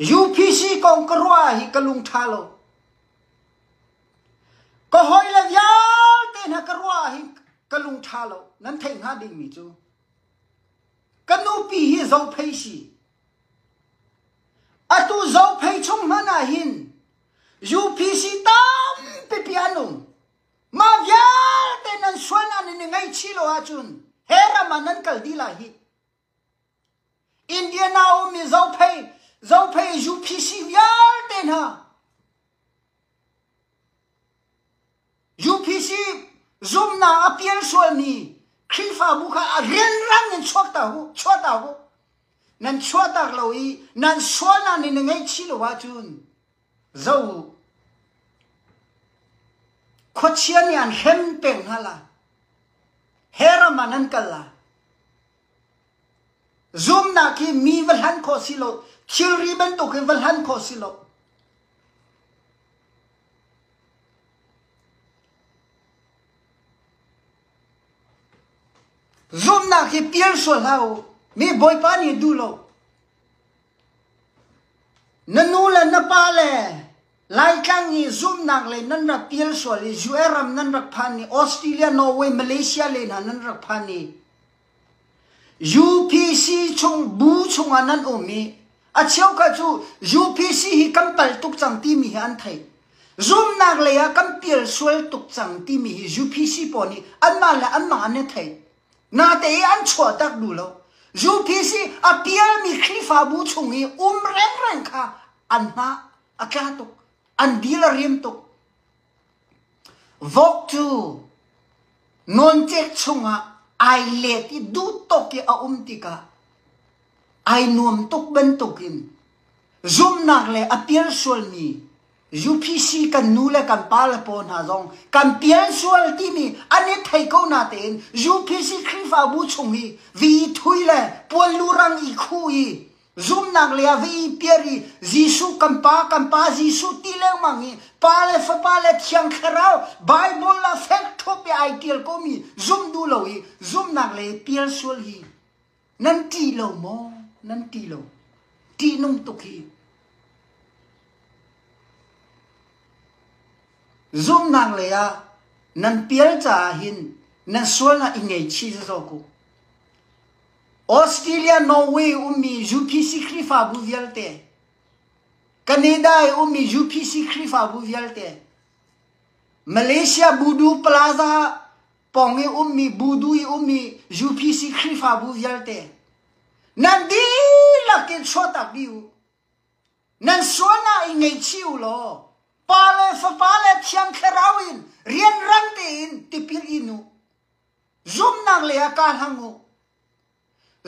UPC kong ka ruah ah hi ka lung ṭha lo. Ka hawi le vialte hna ka ruah ah hin ka lung ṭha lo. Nan theih hnga dingmi cu ka nupi hi zophei si. Atu zophei chung hmanh ah hin UPC tampipi an um. Mah vialte nan sual ah nan i ngaihchih lo ahcun he ram ah nan kal dih lai hih. Indian ah a ummi zophei, zophei UPC vialte hna, UPC zumhnak a pial sualmi Khrihfabu kha a rianrang in chuak ta u, chuah ta u. Nan chuahtak lo i nan sualnak nih na ngaihchih lo ahcun Khuachia nih an hrem peng hna la, heram ah nan kal la, zumnak hi mi va hlan khawh si lo, thilri bantuk hi va hlan khawh si lo. Zumnak hi pial sual hlah u. Mi Bawipa nih duh lo. Na nu le na pa le Laitlang i zumhnak lei nan rak pial sual i US ram nan rak phan i Australia, Norway, Malaysia lei hna nan rak phan i UPC chung bu chungah nan um i a cheukhat cu UPC hi kan pal tuk cang timi hi an theih. Zumhnak lei ah kan pial sual tuk cang timi hi UPC pawl nih anmah le anmah an i theih. Nate i an chuahtak duh lo. UPC a pialmi Khrihfabu chung i um rengreng kha an hna a tla tuk. An dil a rim tuk. Vote cu nawncek chungah ai let i duhtok i a um tikah ai nuam tuk bantukin zumhnak le a pial sualmi UPC kan nu le kan pale pawl hna zong kan pian sual timi an i thei ko na tein UPC Khrihfabu chung i vi thui le puallurang i khu i zumnak le ve i piar i Jesuh kan pa kan pa Jesuh ti lengmang i pa le fapa le thiang thlarau Bible la fek thup i ai tial komi zum duh lo i zumnak le pial sual hi Nan ṭih lo maw? Nan ṭih lo. Ṭihnung tuk hi. Zumhnak lei ah nan pial caah hin nan sualnak i ngeichih sawsawh ku. Australia, Norway ummi UPC Khrihfabu vialte, Canada i ummi UPC Khrihfabu vialte, Malaysia Budu Plaza pawng i ummi budu i ummi UPC Khrihfabu vialte nan dihlak in chuahtak dih u nan sualnak i ngeichi u law pa le fapa le thiang thlarau in rian rang tein tipil in u zumnak lei ah ka hlang u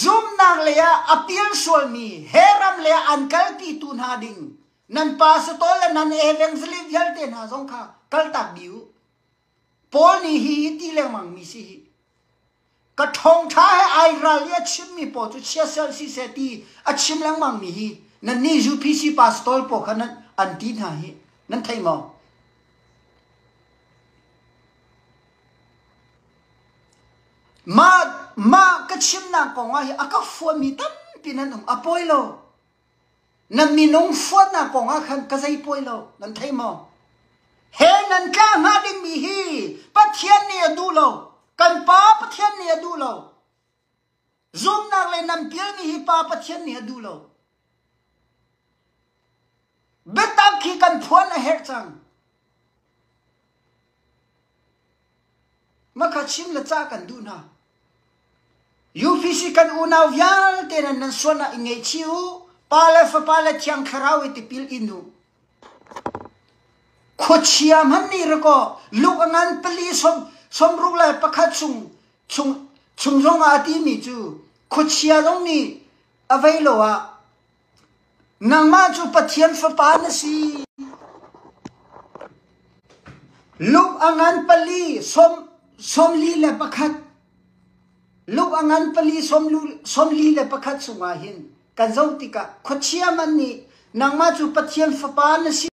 zumnak lei ah apil sualmi he ram le an kalpi tu hna ding nan pastor le nan evangelist vialte hna zong kha kaltak bi u Paul nih hi hi ti lengmang mi si hi ka ṭhawngṭha he ai ral i a chim mi pawl cu chia seh si seh ti a chim lengmang mi hi nannih UPC pastor pawl kha nan an ti hna hi nan theih maw? Mah mah ka chimnak kongah hi a ka fuan mi tampi nan um a poi lo. Na minung suatnak kong ah khan ka zei pawi lo nan thei maw? He nan tla hnga dingmi hi Pathian nih a duh lo. Kan pa Pathian nih a duh lo. Zumnak le nam pialmi hi pa Pathian nih a duh lo. Biatak khi kan phuan a herh cang. Makha chim le ca kan duh hna. UPC kan unau vialte nan nan sualnak i ngeichi u. Pa le fapa le thiang thlarau i tipil in u. Khuachia man nih rako luk a ngan pali som som ruk le pakhat chung chung chung zong ah a ti mi cu khuachia zong nih avei lo ah Nangmah cu Pathian Fapa na si. Luk a ngan pali sawmli le pakhat luk a ngan pali sawmli le pakhat chungah hin kan zoh tikah khuachia man nih nangmah cu Pathian Fapa na si.